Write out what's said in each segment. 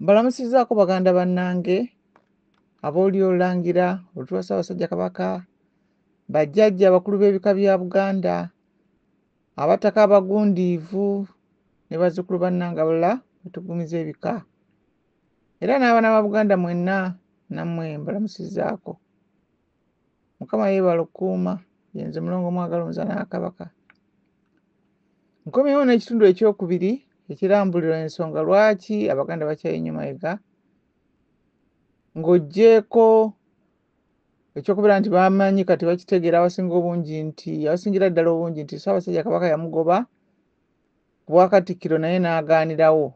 mbalamusizaako baganda bannange abooli olangira olutula ssaabasajja kabaka bajjajja abakulu b'ebika bya buganda abataka abagundiivu ne bazzukulu bannange abalala betugumiza ebika era n'abaana ba buganda mwenna nammwe mbalamusizaako mukama yeebala okukuuma yenze mulongo mwagala omuzana wa kabaka nkomyewo n'ekitundu ekyokubiri ekirambulira ensonga lwaki abaganda bakyayinnyo mayega ng'oggyeeko ekyokubeera nti bamanyi kati bakitegeera abasinga obungi nti abasingira ddala obungi nti ssaabasajja kabaka yamugoba ku bwakatikkiro naye n'agaanirawo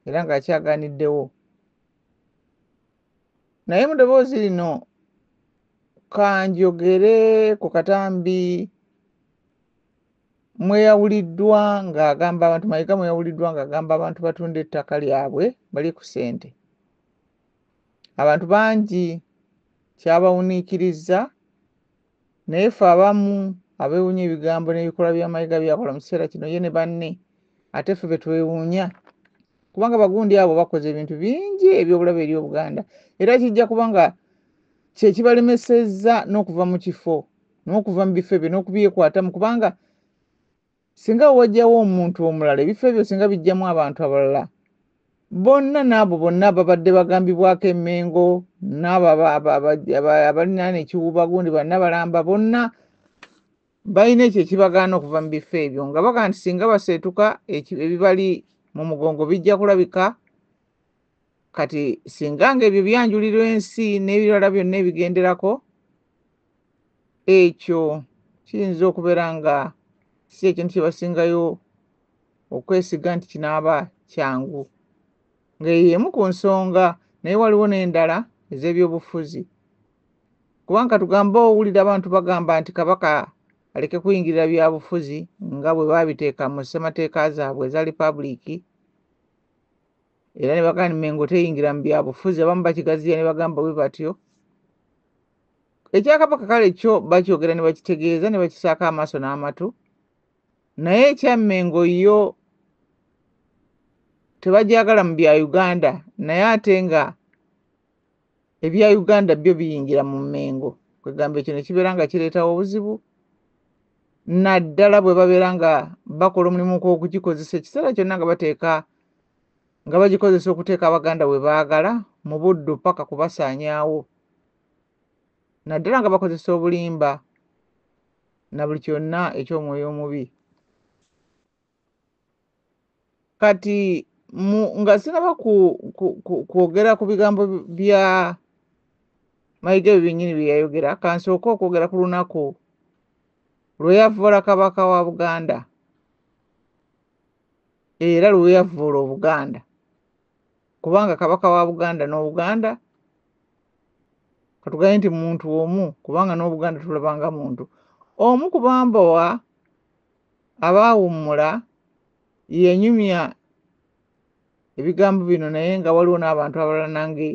era ng'akyagaaniddewo naye mu ddoboozi lino kanjogere ku katambi mweyawuliddwa ng'agamba abantu mayega mweyawuliddwa ng'agamba abantu batunda ettaka lyabwe bali ku sente abantu bangi kyabawuniikirizza naye fe abamu abewunya ebigambo n'ebikolwa bya mayega byakola mu kiseera kino ye ne banne ate fe betwewuunya kubanga bagundi abo bakoze ebintu bingi ebyobulabe eri obuganda era kijja kubanga kyekibalemesezza n'okuva mu kifo n'okuva mu bifo ebyo n'okubyekwatamu kubanga singa wewajjawo omuntu omulala ebifo ebyo singa bijjamu abantu abalala bonna n'abo bonna ababadde bagambibwako emengo n'abo abalinaana ekiwuubagundi banna balamba bonna balina ekyo ekibagaana okuva mu bifo ebyo nga bagamba nti singa baseetuka ebibali mu mugongo bijja kulabika kati singa nga ebyo byanjuliro ensi n'ebirala byonna ebigenderako ekyo kiyinza okubeera nga si ekintu kye basingayo okwesiga nti kinaaba kyangu ng'eyo emu ku nsonga naye waliwo n'endala ez'ebyobufuzi kubanga tugamba owulira abantu bagamba nti kabaka aleke kuyingirira byabufuzi nga bwe babiteeka mu ssemateeka zaabwe eza lipabuliiki era ne bagamba mengo teyingira mu byabufuzi abamu bakigaziya ne bagamba bwe batyo ekyakabaka kale kyo bakyogera ne bakitegeeza ne bakisaako amaaso n'amatu naye ekya mengo yo tebajagala mu bya uganda naye ate nga ebya uganda byo biyingira mu mengo kwegamba ekyo nekibeera nga kireetawo obuzibu naddala bwe babeera nga bakola omulimu gwokugikozesa ekiseera kyonna nga bateeka nga bagikozesa okuteeka abaganda we baagala mu buddu paka kubasaanyaawo naddala nga bakozesa obulimba na buli kyonna eky'omwoyo omubi kati mu nga sinaba kwogera ku bigambo bya mayiga ebyo byennyini bye yayogera kansooke okwogera ku lunaku lwe yavvoola kabaka wa buganda era lwe yavvoola obuganda kubanga kabaka wa buganda n'obuganda katugambye nti muntu omu kubanga n'obuganda tulabanga muntu omu kubambowa aba awummula yenyumya ebigambo bino naye nga waliwo n'abantu abalala nange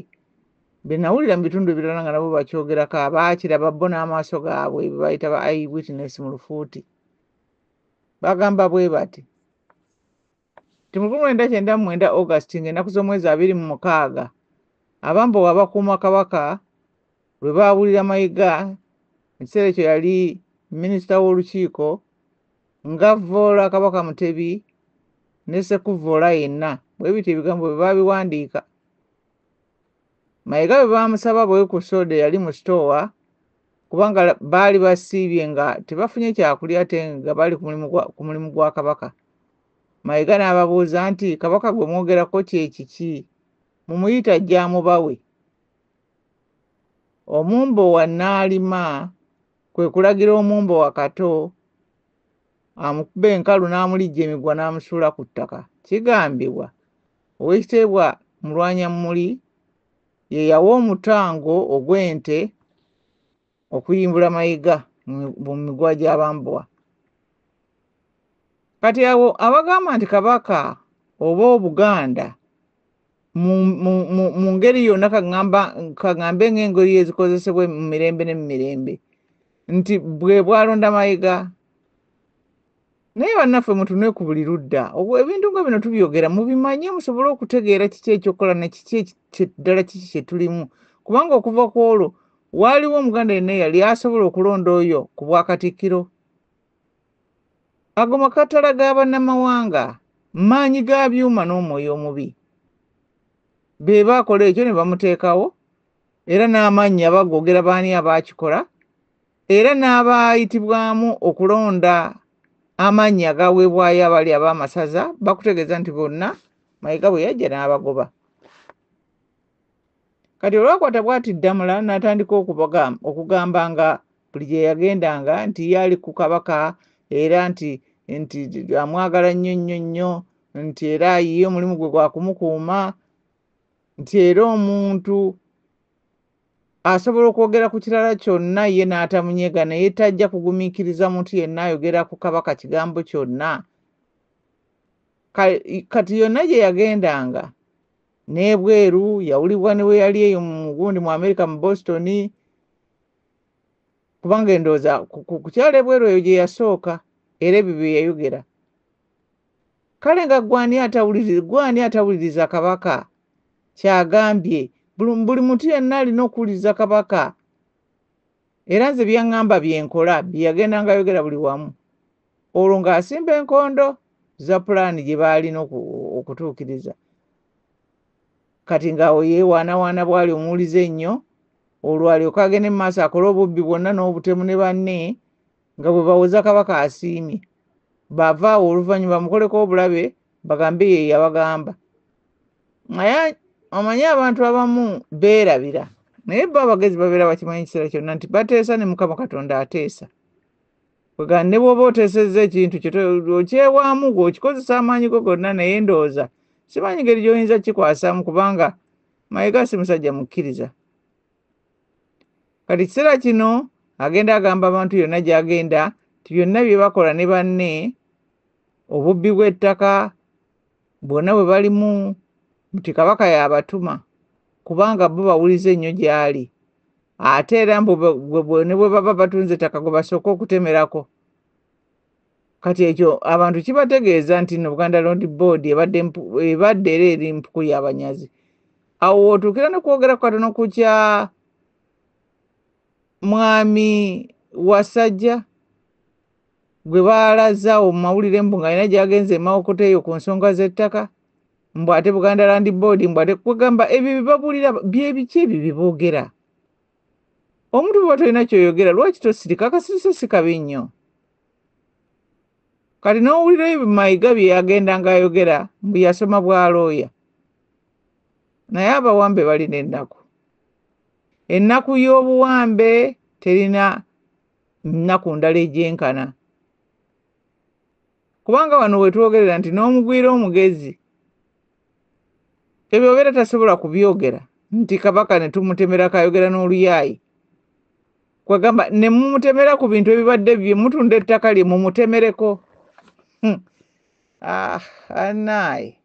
benawulira mu bitundu ebirala nga nabo bakyogerako abaakiraba bo n'amaaso gaabwe bebayita ba ai witness mu lufuuti bagamba bwe bati nti mu lwenda kyenda mu mwenda August ng'ennaku z'omwezi abiri mu mukaaga abambowa abakuuma Kabaka lwe baawulira Mayiga mu kiseera ekyo yali minisita w'olukiiko ng'avvoola Kabaka Mutebi ne Sekuvvoola yenna bwe bityo ebigambo bwe baabiwandiika Mayiga bwe baamusaba bwekusoda eyali mu sitoowa kubanga la- baali basiibye nga tebafunye kyakulya ate nga bali ku mulimu gwa- ku mulimu gwa kabaka mayega n'ababuuza nti kabaka gwe mwogerako kyekiki mumuyita ajja amubawe omumbo wa naalima kwe kulagira omumbo wa kato amukuba enkalu n'amulijja emigwa n'amusuula ku ttaka kigambibwa owekitiibwa mulwanyammuli ye yawa omutango ogw'ente okuyimbula mayiga mu migwa gy'abambowa kati awo abagamba nti kabaka oba obuganda mu ngeri yonna kaŋambe ng'engeri ezikozesebwa mu mirembe ne mu mirembe nti bwe bwalonda mayiga naye bannaffe mutunule ku buli ludda ebintu nga bino tubyogera mubimanye musobole okutegeera kiki ekyokukola ne kiki ddala kiki kye tulimu kubanga okuva ku olwo waaliwo omuganda yenna eyali asobola okulonda oyo ku bwakatikkiro ago makatala ga bannamawanga maanyi ga byuma n'omwoyo omubi be baakola ekyo ne bamuteekawo era n'amaanyi abagoogera baani abaakikola era n'abaayitibwamu okulonda amannya agaweebwayo abali ab'amasaza bakutegeeza nti bonna mayega bwe yajja n'abagoba kati olwakwata bwati ddamula n'atandika okugamba nga buli gye yagendanga nti yaali ku kabaka era nti nti amwagala nnyo nnyo nnyo nti era ye omulimu gwe gwakumukuuma nti era omuntu asobola okwogera ku kirala kyonna ye n'atamunyega naye tajja kugumiikiriza muntu yenna ayogera ku kabaka kigambo kyonna kati yonna gye yagendanga n'ebweru yawulibwa ne we yali eyo mugundi mu amerika mu boston kubanga endowooza ku kyalo ebweru eyo gye yasooka era ebyo bye yayogera kale nga gwe ani atawuliriza gwe ani atawuliriza kabaka kyagambye buli muntu yenna alina okuwuliriza kabaka era nze byaŋŋamba byenkola byeyagenda nga yogera buli wamu olwo ng'asimba enkondo za pulaani gye baalina okutuukiriza kati ng'awo yeewaanawaana bwali omuwulize ennyo olwo alyoka agende mu maaso akole obubbi bwonna n'obutemu ne banne nga bwe bawoza kabaka asiimye bava awo oluvannyuma bamukoleko obulabe bagambe ye yabagamba naye omanyi abantu abamu beerabira naye bo abagezi babeera bakimanyi ekiseera kyonna nti bateesa ne mukama katonda ateesa kwegana ne bwoba oteesezza ekintu okyewaamu gwe okikozesa amaanyi go gonna naye ndowooza simanyi ngeri gyoyinza kukikwasamu kubanga mayega si musajja mukkiriza kati kiseera kino agenda agamba abantu yonna gy'agenda nti byonna bye bakola ne banne obubbi bw'ettaka bwonna bwe balimu nti kabaka y'abatuma kubanga bo bawuliza ennyo gy'ali ate era ne bwe baba batunze ettaka gwe basooka okutemerako kati ekyo abantu kibategeeza nti no buganda lond board ebadde era eri mpuku yabanyazi awo wotuukira nokwogera ku katono ku kya mwami wasajja gwe baalaza awo mu mawulire mbu ngaalina gyagenze emawokota eyo ku nsonga z'ettaka mbu ate buganda land board mbu ate kwegamba ebyo bibabulira byebiki ebyo byeboogera omuntu bweba tolina kyoyogera lwaki tosirika akasirise sikabi nnyo kati n'owulira ebyo mayiga bye yagendanga ayogera mbu yasoma bwa looya naye abawambe balina ennaku ennaku y'obuwambe terina nnaku ndala egyenkana kubanga wano wetwogerera nti n'omugwira omugezi ebyo obeera tasobola kubyogera nti kabaka ne tumutemera kayogera n'oluyaayi kwegamba ne mumutemera ku bintu ebibadde bye mutunda ettaka lye mumutemereko hmm. ah, anaye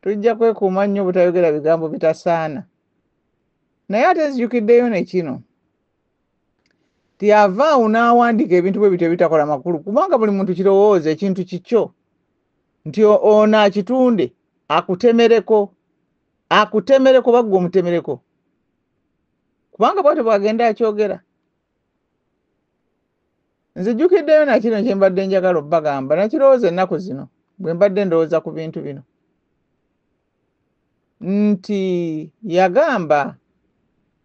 tujja kwekuuma nnyo obutayogera bigambo bitasaana naye ate nzijukiddeyo nekino tyavaawo n'awandiika ebintu bwe bityo ebitakola makulu kubanga buli muntu kirowooza ekintu kikyo nti ono akitunde akutemereko akutemereko bagga omutemereko kubanga bwatyo bwagenda akyogera nzijjukiddeyo nakino kyembadde njagala obbagamba nakirowooza ennaku zino bwe mbadde ndowooza ku bintu bino nti yagamba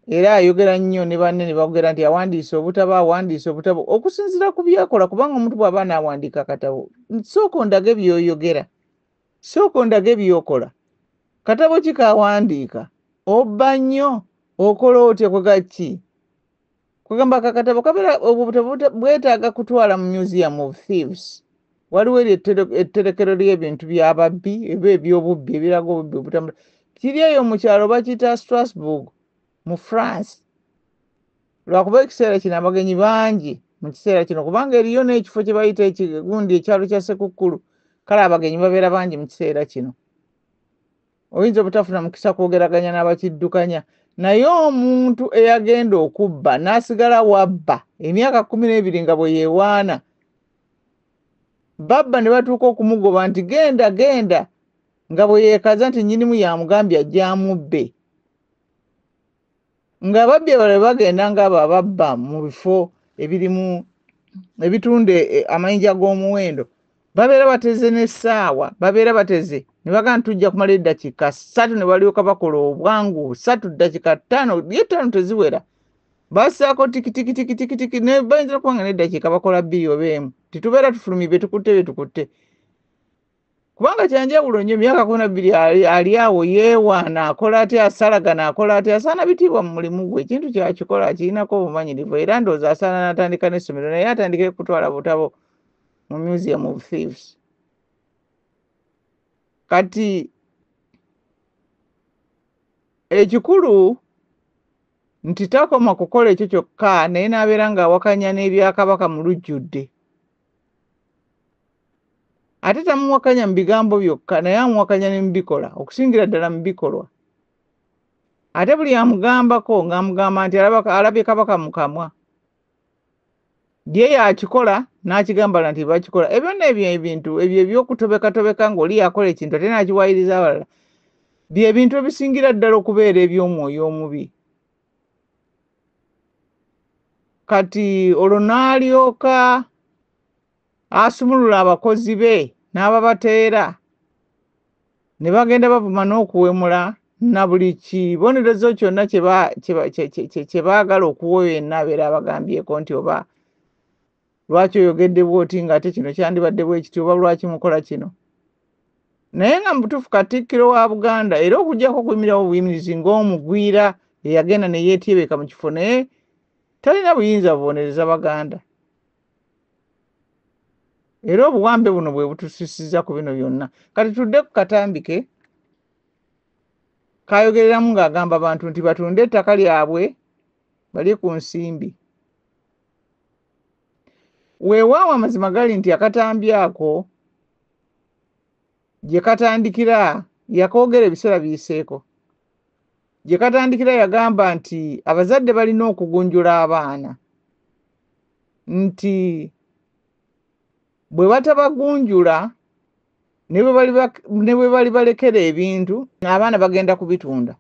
era ayogera nnyo ne banne ne bagera nti awandiise obutabo awandiise obutabo okusinziira ku byakola kubanga omuntu bw'aba naawandiika akatabo sooka ondaga ebyoyogera sooka ondaga ebyokola katabo ki kawandiika obba nnyo okola otya kwegaki kwegamba kakatabo kabera obwo butabo bwetaaga kutwala mu museum of thieves waliwo eryo etterekero ly'ebintu by'ababbi eba eby'obubbi ebiraga obubbi obutambula kiri eyo mu kyalo bakiyita strasbourg mu france lwakuba ekiseera kino abagenyi bangi mu kiseera kino kubanga eriyo n'ekifo kye bayita ekigundi ekyalo kya sekukkulu kale abagenyi babeera bangi mu kiseera kino oyinza obutafuna mukisa kwogeraganya n'abakiddukanya naye omuntu eyagenda okubba n'asigala wabba emyaka kumi n'ebiri nga bwe yewaana babba ne batuuka okumugoba nti genda genda nga bwe yeekaza nti nnyinimu yamugambye ajja amubbe ng'ababbi abalala bagenda ng'abo ababba mu bifo ebirimu ebitunda e, amayinja g'omuwendo babeera bateze n'essaawa babeera bateze ne bagamba nti tujja kumala eddakiika ssatu ne balyoka bakola obwangu satu ddakiika ttaano ye ttaano teziwera basaako tikitikitikitiki ne bayinza okuba nga n'eddakiika bakola bbiri oba emu tetubeera tufulumye bye tukutte bye tukutte kubanga kyanjawulo nnyo emyaka kumi nabbiri ali awo yeewaana akola atya asalagana akola atya asaana bitiibwa mu mulimu gwe ekintu kyakikola akirinako obumanyirivu era ndowooza asaana n'atandika n'essomero naye atandike kutwala butabo mu museum of thieves kati ekikulu nti takoma kukola ekyo kyokka naye n'abeera ng'awakanya n'ebyakabaka mu lujjudde ate tamuwakanya mu bigambo byokka naye amuwakanya ne mu bikola okusingira ddala mu bikolwa ate buli amugambako ng'amugamba nti alabye kabaka mu kamwa ye yakikola n'akigambala nti bakikola ebyo nno ebyo ebintu ebyo ebyokutobekatobeka ng'oli yakola ekintu ate n'akiwayiriza abalala byebintu ebisingira ddala okubeera eby'omwoyo omubi kati olwo n'alyoka asumulula abakozi be n'ababateera ne bagenda bavuma n'okuwemula na buli kibonerezo kyonna kye baagala okuwa yenna abeera abagambyeko nti oba lwaki oyogedde bwoti nga ate kino kyandibadde bwekiti oba lwaki mukola kino naye nga mubutuufu katikkiro wa buganda era okujjako okuyimirawo buyimirizi ng'omugwira eyagenda neyetyebeka mu kifo naye talina buyinza bubonereza baganda era obuwambe buno bwe butusisiza ku bino byonna kati tudde ku katambike kayogereramu ng'agamba abantu nti batunde ettaka lyabwe bali ku nsimbi weewaawo amazima gali nti akatambi ako gye katandikira yakoogera ebiseera biyiseeko gye katandikira yagamba nti abazadde balina okugunjula abaana nti bwe batabagunjula ne bwe bali bak- ne bwe bali balekera ebintu abaana bagenda kubitunda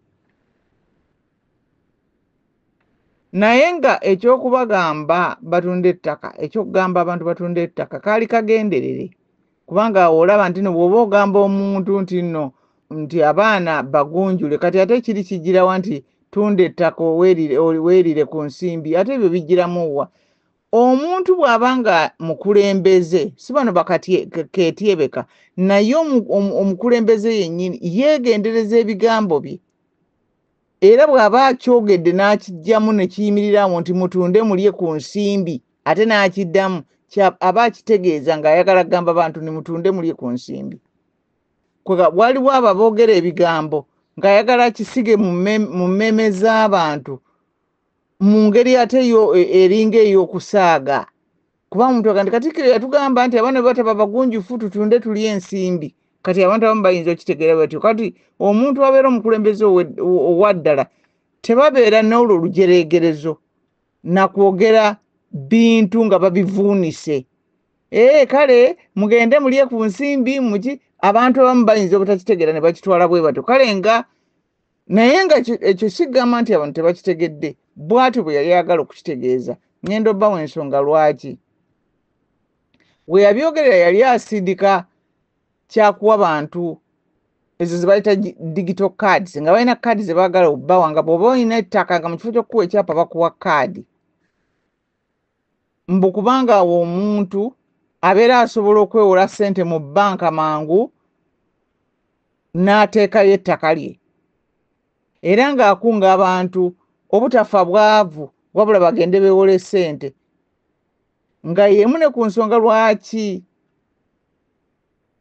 naye nga eky'okubagamba batunda ettaka eky'okugamba abantu batunda ettaka kaali kagenderere kubanga awo olaba nti no bw'oba ogamba omuntu nti no nti abaana bagunjule kati ate kiri kijjirawa nti tunda ettaka owerire oli- weerire ku nsimbi ate ebyo bijjiramu wa omuntu bw'aba nga mukulembeze si bano bakaketyebeka naye omukulembeze yennyini yeegendereza ebigambo bye era bw'aba akyogedde n'akijjamu ne kiyimirirawo nti mutunde mulye ku nsimbi ate n'akiddamu aba akitegeeza ng'ayagala kugamba bantu ni mutunde mulye ku nsimbi waliwo abo aboogera ebigambo ng'ayagala akisige mu mmeeme z'abantu mu ngeri ate yo e- eringa ey'okusaaga kuba omuntu agandi katikkiro yatugamba nti abaana bwe bataba bagunjufu tutunde tulye ensimbi kati abantu abamu bayinza okitegeera batyo kati omuntu abeera omukulembeze owe- ow- owa ddala tebabeera n'olwo lujereegerezo nakwogera bintu nga babivuunise ee kale mugende mulye ku nsimbi muki abantu abamu bayinza obutakitegeera ne bakitwala bwe batyo kale nga naye nga ekyo sigamba nti abantu tebakitegedde bwatyo bwe yali agala okukitegeeza ngenda obbawo ensonga lwaki we yabyogerera yali asindika kyakuwa bantu ezo zebayita digital cards nga balina kaadi zebagala obbawa nga bwoba olina ettaka nga mu kifo kyokukuwa ekyapa bakuwa kaadi mbu kubanga awo omuntu abeera asobola okwewola sente mu banka mangu n'ateekayo ettaka lye era ng'akunga abantu obutafa bwavu wabula bagende bewole sente nga yemu ne ku nsonga lwaki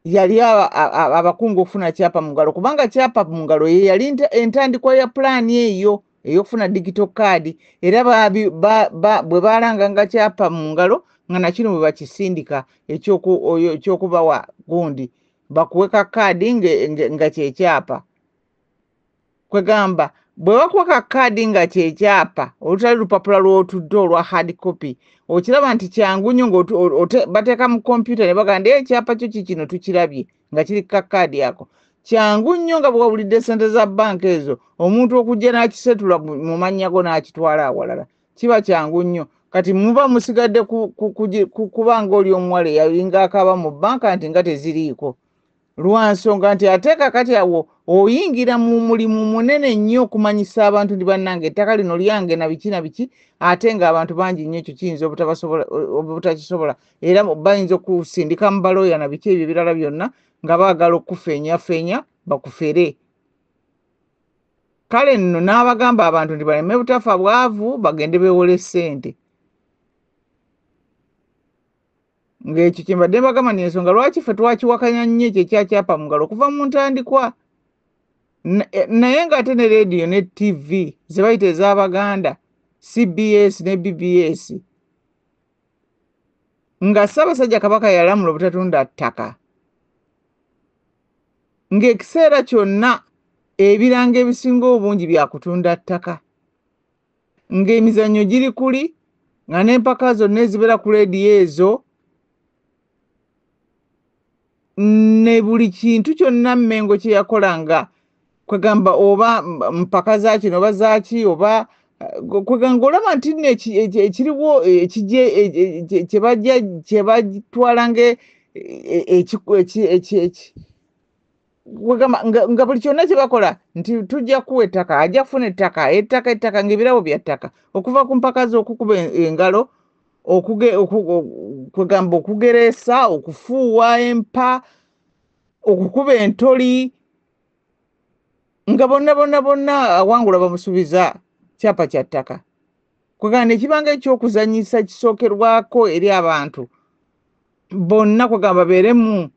yali abakunga okufuna kyapa mu ngalo kubanga kyapa mu ngalo ye yali entandikwa ya pulaani eyo ey'okufuna digito kaadi era bwe baalanganga kyapa mu ngalo nga nakino bwe bakisindika ekyokubawa gundi bakuwe ka kaadi nga kyekyapa kwegamba bwe bakuwa ka kaadi nga kyekyapa olutali lupapula lw'otudde olwa hard copy okiraba nti kyangu nnyo ngabateeka mu kompyuta ne bagamba naye ekyapa kyo kikino tukirabye nga kiri ka kaadi ako kyangu nnyo nga bwewabulidde ssente za banka ezo omuntu okujja n'akisetula mu mannya go n'akitwala awalala kiba kyangu nnyo kati muba musigadde kuba ngaoli omuwala eyalinga akaaba mu banka nti nga teziriiko lwa nsonga nti ate kakati awo oyingira mu mulimu munene nnyo okumanyisa abantu ndi bannange ettaka lino lyange na biki na biki ate ng'abantu bangi nnyo ekyo kiyinza obutakisobola era bayinza okusindika mu balooya na biki ebyo ebirala byonna nga baagala okukufeenyafeenya bakufere kale nno n'abagamba abantu nti baleme butafa bwavu bagende bewole ssente ng'ekyo kye mbadde mbagamba nti ensonga lwaki ffe twakiwakanya nnyo ekyo ekyakyapa mu ngalo okuva mu ntandikwa Na- eh, naye ng'ate ne leediyo ne tv ze bayita ez'abaganda cbs ne bbs nga ssaabasajja kabaka yalamula obutatunda ttaka ng'ekiseera kyonna ebirango ebisinga obungi bya kutunda ttaka ng'emizannyo giri kuli nga n'empaka zonna ezibeera ku leediyo ezo ne buli kintu kyonna mmengo kye yakola nga kwegamba oba mpaka za kino oba zaaki oba eh, kwegamba olaba nti nno ekiriwo ekigye kye batwala nga e, e, e, wegamba nga, nga buli kyonna kye bakola nti tujja kuwa ettaka ajja kufuna ettaka ettaka ettaka ngaebirabo bya ttaka okuva ku mpaka z'okukuba engalo kwegamba okugereesa okufuuwa empa okukuba entoli nga bonna bonna bonna awangula bamusuubiza kyapa kya ttaka kwegamba nekibanga ekyokuzanyisa kisookerwako eri abantu bonna kwegamba beeremu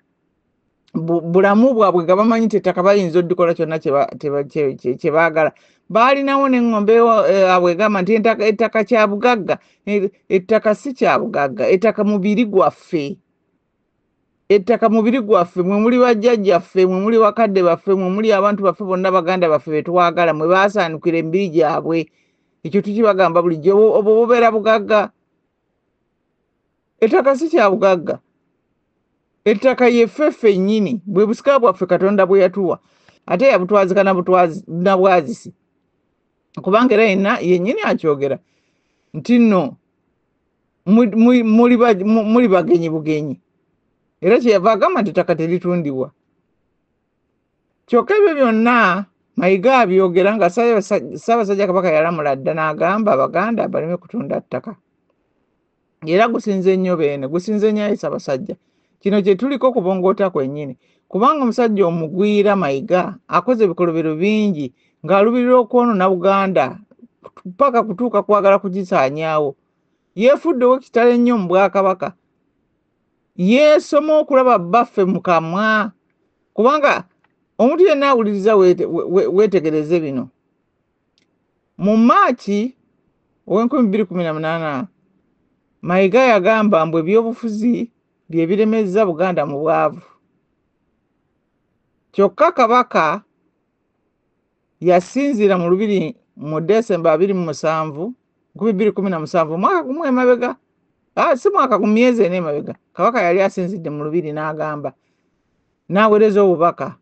bu- bulamu bwabwe nga bamanyi nti ettaka bayinza odikola kyonna kye ba- kye ba- kye- kye- kye baagala baalinawo n'eŋŋombe ewa- eh, abwe egamba nti entaka- ettaka kya bugagga Eh, ettaka si kya bugagga ettaka mubiri gwaffe ettaka mubiri gwaffe mwe muli bajjajjaffe mwe muli bakadde baffe mwe muli abantu baffe bonna baganda baffe be twagala mwe baasaanukira emibiri gyabwe ekyo tukibagamba bulijjo obwo obwo bubeera bugagga ettaka si kya bugagga ettaka yefefe nnyini bwe busika bwaffe katonda bwe yatuwa ate yabutwazika na bwazisi kubanga era yenna yennyini akyogera nti nno muli bagenyi bugenyi era kyeyava agamba nti ettaka teritundibwa kyokka ebyo byonna mayiga abyogera nga ssaabasajja kabaka yalamula dda n'agamba abaganda baleme kutunda ttaka era gusinze nnyo beene gusinze nnyo ayi ssaabasajja kino kye tuliko kubongoota kwennyini kubanga omusajja omugwira mayiga akoze ebikolobero bingi ng'alubirira okwonoona buganda paka kutuuka kwagala kugisaanyaawo yeefudde owekitalo ennyo mu bwakabaka yeesoma okulaba bbaffe mu kamwa kubanga omuntu yenna awuliriza weetegereze bino mu maaki ow'enkumi bbiri kumi na munaana mayiga yagamba mbu ebyobufuzi bye biremezza buganda mu bwavu kyokka kabaka yasinziira mu lubiri mu desemba abiri mu musanvu nkumi bbiri kumi na musanvu omwaka gumu emabega ah, si mwaka ku myezi ena emabega kabaka yali asinzidde mu lubiri n'agamba n'aweereza obubaka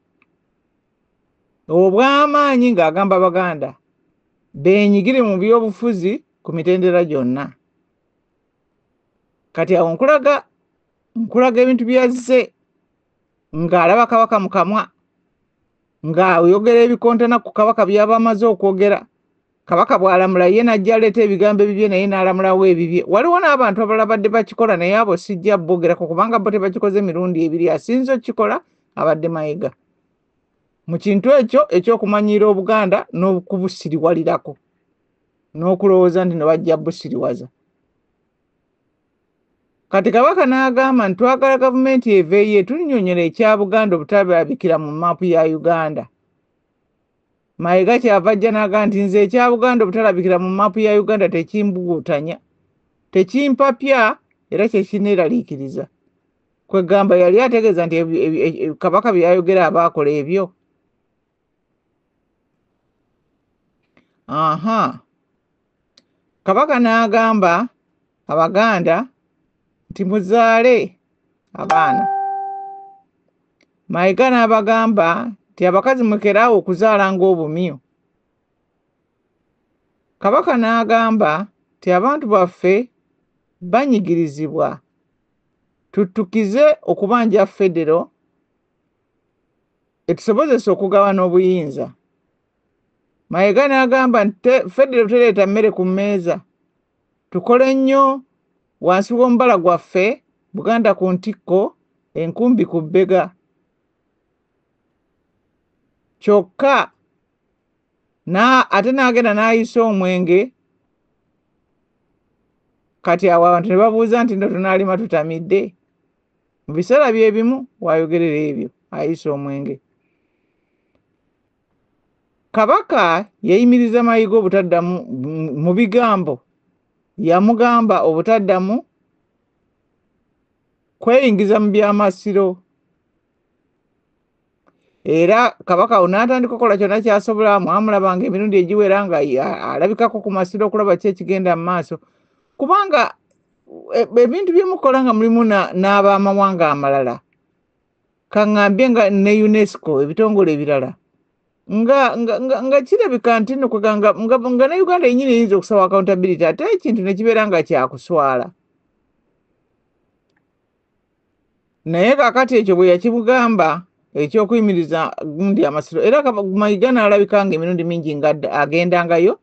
obw'amaanyi ng'agamba baganda beenyigire mu by'obufuzi ku mitendera gyonna kati awo nkulaga nkulaga ebintu byazze ng'alaba kabaka mu kamwa ng'ayogera ebikontana ku kabaka byaba amaze okwogera kabaka bw'alamula ye n'ajja aleeta ebigambo ebibye naye n'alamulawo ebibye waliwo n'abantu abalala badde bakikola naye abo sijja bogerako kubanga bo tebakikoze mirundi ebiri asinza okukikola abadde mayega mu kintu ekyo ekyokumanyiira obuganda n'okubusiriwalirako n'okulowooza nti no bajja busiriwaza kati kabaka n'agamba nti twagala gavumenti eveeyo etunyonyola ekya buganda obutabyabikira mu maapu ya uganda mayega kyava ajja n'agamba nti nze ekya buganda obutalabikira mu maapu ya uganda tekimbuguutanya tekimpapya era kyekineeraliikiriza kwegamba yali ategeeza nti kabaka byeyayogera aba akola ebyo aha kabaka n'agamba abaganda nti muzaale abaana mayiga n'abagamba nti abakazi mukeraawo okuzaala ng'obumyu kabaka n'agamba nti abantu baffe banyigirizibwa tuttukize okubanja federo etusobozesa okugabana obuyinza mayega n'agamba nti federo tereeta mmere ku mmeeza tukole nnyo wansi w'omubala gwaffe buganda ku ntikko enkumbi ku bbega kyokka na ate n'agenda n'ayisa omwenge kati awo abantu ne babuuza nti no tunaalima tutamidde mu biseera bye bimu w'ayogerera ebyo ayisa omwenge kabaka yayimiriza mayiga obutaddamu mu- mu bigambo yamugamba obutaddamu kweyingiza mu by'amasiro era kabaka awo n'atandika okukola kyonna kyasobola mwamulabanga emirundi egiwera nga alabikako ku masiro okulaba ki ekigenda mu maaso kubanga e, ebintu byemukola nga mulimu n'abamawanga amalala kaŋambye nga ne unesco ebitongole ebirala nga nga kirabika nti no kweganga nga ne uganda yenyini eyinza okusaba accountability ate ekintu nekibeera nga kyakuswala naye kakati ekyo bwe yakimugamba ekyokuyimiriza gundi amasiro era mayiga n'alabika nga emirundi mingi nga agendangayo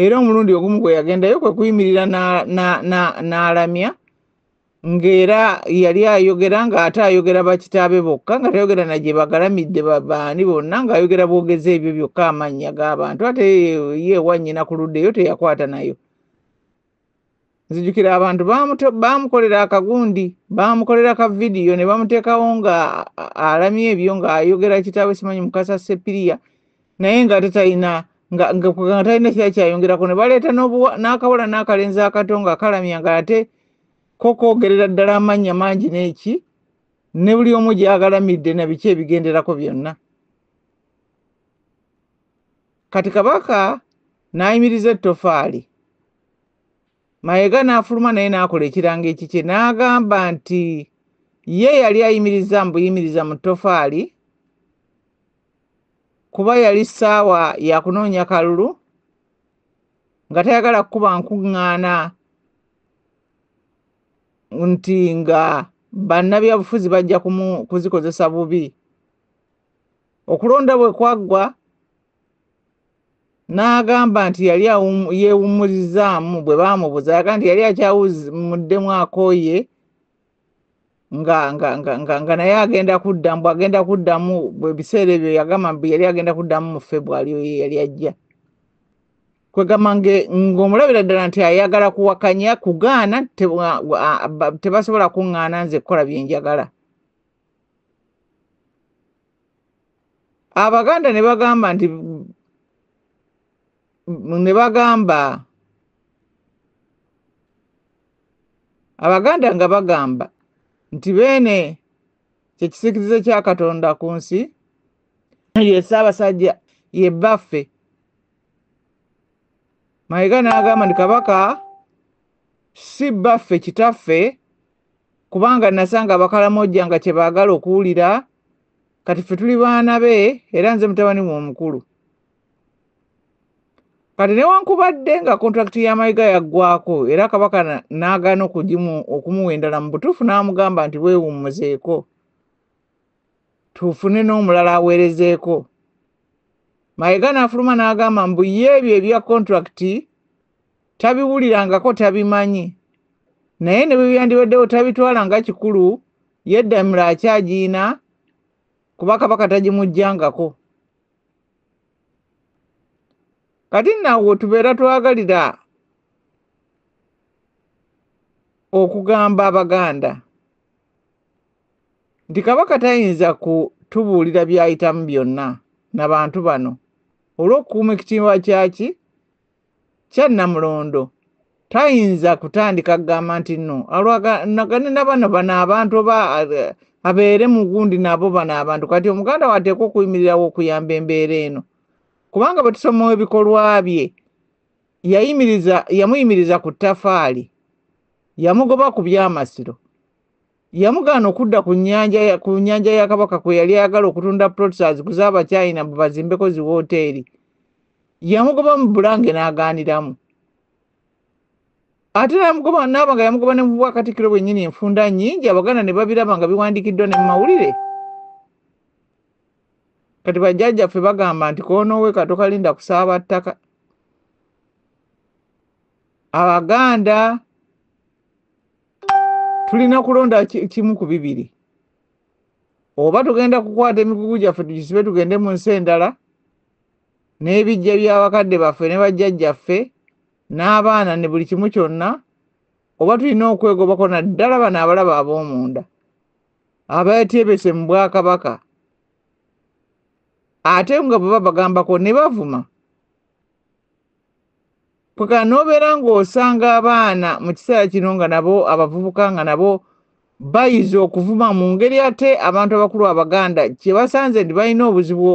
era omulundi ogumu gwe yagendayo kwe kuyimirira n'alamya ng'era yali ayogera ng'ate ayogera bakitaabe bokka nga tayogera na gye bagalamidde baani bonna ng'ayogera bwogeza ebyo byokka amannya g'abantu ate yeewa nnyina ku ludda eyo teyakwata nayo nzijukira abantu baamukolera akagundi baamukolera ka vidiyo ne bamuteekawo nga alamya ebyo ng'ayogera kitaawe simanyi mukasa sepiriya naye nga ate talina nga talina kira kyayongerako ne baleeta n'akawala n'akalenzi akato nga kalamya nga ate ko koogerera ddala amannya mangi n'eki ne buli omu gyagalamidde na biki ebigenderako byonna kati kabaka n'ayimiriza ettofaali mayega n'afuluma naye n'akola ekirango ekikye n'agamba nti ye yali ayimiriza mbuyimiriza mu ttofaali kuba yali ssaawa yakunoonya kalulu nga tayagala kukuba nkuŋŋaana nti nga bannabyabufuzi bajja kuzikozesa bubi okulonda bwe kwaggwa n'agamba nti yali yeewummurizaamu bwe baamubuza aga nti yali akyawumuddemu akooye nga nga nga nga nga naye agenda kuddamu bwagenda kuddamu ebiseera ebyo yagamba mbu yali agenda kuddamu mu febwali oyo yali ajja kwegamba ng'omulabira ddala nti ayagala kuwakanya kugaana tebasobola kuŋŋaana nze kukola bye njagala abaganda ne bagamba nti ne bagamba abaganda nga bagamba nti beene kyekisikirize kya katonda ku nsi ye ssaabasajja ye bbaffe mayega n'agamba nti kabaka si bbaffe kitaffe kubanga nasanga abakalamojja nga kyebaagala okuwulira kati ffe tuli baana be era nze mutabani we omukulu kati newankubadde nga kontrakiti ya mayiga yaggwako era kabaka n'agaana okugimu okumuwa endala mu butuufu n'amugamba nti weewummuzeeko tufune n'omulala aweerezeeko mayiga n'afuluma n'agamba mbu ye ebyo ebya kontrakiti tabiwulirangako tabimanyi naye ne bwebyandibaddewo tabitwala nga kikulu yeddamiro akyagiina kuba kabaka tagimujjangako kati nawo tubeera twagalira okugamba abaganda nti kabaka tayinza kutubuulira byayitamu byonna nabantu bano olw'okukuuma ekitiibwa kyaki kyannamulondo tayinza kutandika kugamba nti no alwaganagane nabano bano abantu oba eh, abeere mugundi nabo bano abantu kati omuganda wateeka okuyimirirawo okuyamba embeera eno kubanga bwe tusomawo ebikolwa bye yayimiriza yamuyimiriza ku tafaali yamugoba ku byamasiro yamugaana okudda ku nyanja ku nyanja ya kabaka kwe yali ayagala okutunda plots aziguze abachina mbu bazimbeko zi wooteeri yamugoba mu bulange n'agaaniramu ate namugoba naaba nga yamugoba ne mu bwakatikkiro bwennyini enfunda nnyingi abaganda ne babiraba nga biwandiikiddwa ne mu mawulire kati bajjajjaffe bagamba nti konowe katokalinda kusaaba ttaka abaganda tulina kulonda kimu ku bibiri oba tugenda kukwata emigugu gyaffe tugisibe tugende mu nsi endala n'ebijja by'abakadde baffe ne bajjajjaffe n'abaana ne buli kimu kyonna oba tulina okwegobako naddala bano abalaba ab'omunda abatyebese mu bwakabaka ate nga bwe babagambako ne bavuma paka n'obeera ng'osanga abaana mu kiseera kino nga nabo abavubuka nga nabo bayiza okuvuma mu ngeri ate abantu abakulu abaganda kye basanze nti balina obuzibu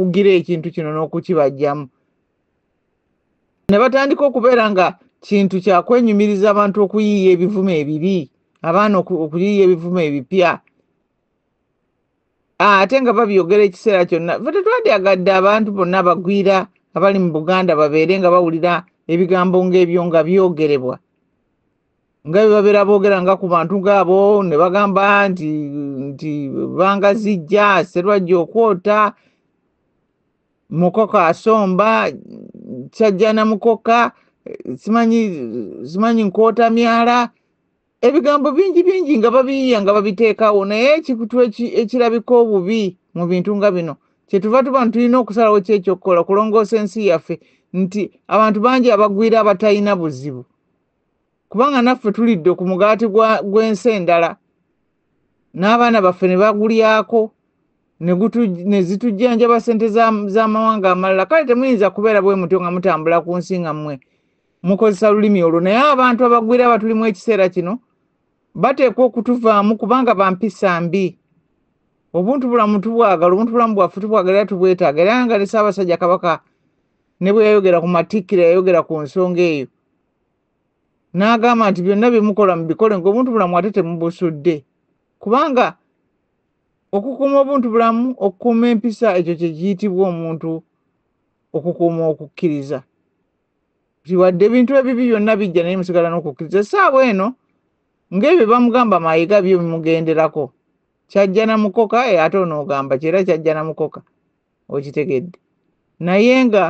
okugira ekintu kino n'okukibajjamu ne batandika okubeera nga kintu kya kwenyumiriza abantu okuyiiya ebivumo ebibi abaana okuyiiya ebivumo ebipya Ah, ate nga babyogera ekiseera kyonna fe tetwandyagadde abantu bonna abagwira abali mu buganda babeere nga bawulira ebigambo ngaebyo nga byogerebwa nga bebabeera boogera nga ku bantu ngaabo ne bagamba nti nti banga zijja serwajja okwota mukoko asomba kyajjana mukoka simanyi simanyi nkwota myala ebigambo bingi bingi nga babiyiya nga babiteekawo naye ekikutu ekirabika obubi mu bintu nga bino kyetuva tuba nti tulina okusalawo ki ekyokukola okulongoosa ensi yaffe nti abantu bangi abagwira abatalina buzibu kubanga naffe tulidde ku mugaati gw'ensi endala n'abaana baffe ne bagulyako ne zitujjanjaba ssente z'amawanga amalala kale temuyinza kubeera bwe mutyo nga mutambula ku nsi nga mmwe mukozesa lulimi olwo naye abantu abagwira abatulimu ekiseera kino bateekwa okutuvaamu kubanga bampisa mbi obuntu bulamu tubwagala obuntu bulamu bwaffe tubwagala era tubwetaaga era nga ne ssaabasajja kabaka ne bwe yayogera ku matikkira yayogera ku nsonga eyo n'agamba nti byonna bye mukola mubikole ng'obuntu bulamu ate temubusudde kubanga okukuuma obuntu bulamu okukuuma empisa ekyo kye kiyitibwa omuntu okukuuma okukkiriza wadde ebintu ebibi byonna bijja naye musigala n'okukkiriza essaawa eno ng'ebyo bamugamba mayiga byo bimugenderako kyajja na mukoka eh, ate onoogamba kyera kyajja na mukoka okitegedde naye nga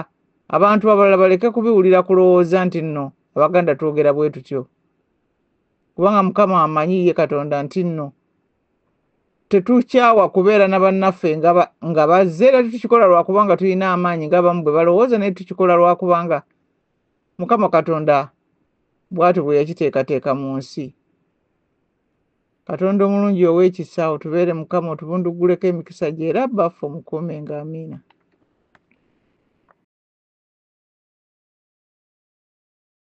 abantu abalala baleke kubiwulira kulowooza nti nno abaganda twogera bwe tutyo kubanga mukama amanyi ye katonda nti nno tetukyawa kubeera na bannaffe nga bazze era tetukikola lwakubanga tulina amaanyi ngaabamu bwe balowooza naye tukikola lwakubanga mukama katonda bwatyo bwe yakiteekateeka mu nsi katonda omulungi ow'ekisa otubeere mukama otubundugguleko emikisa gye era baffe omukuume nga amiina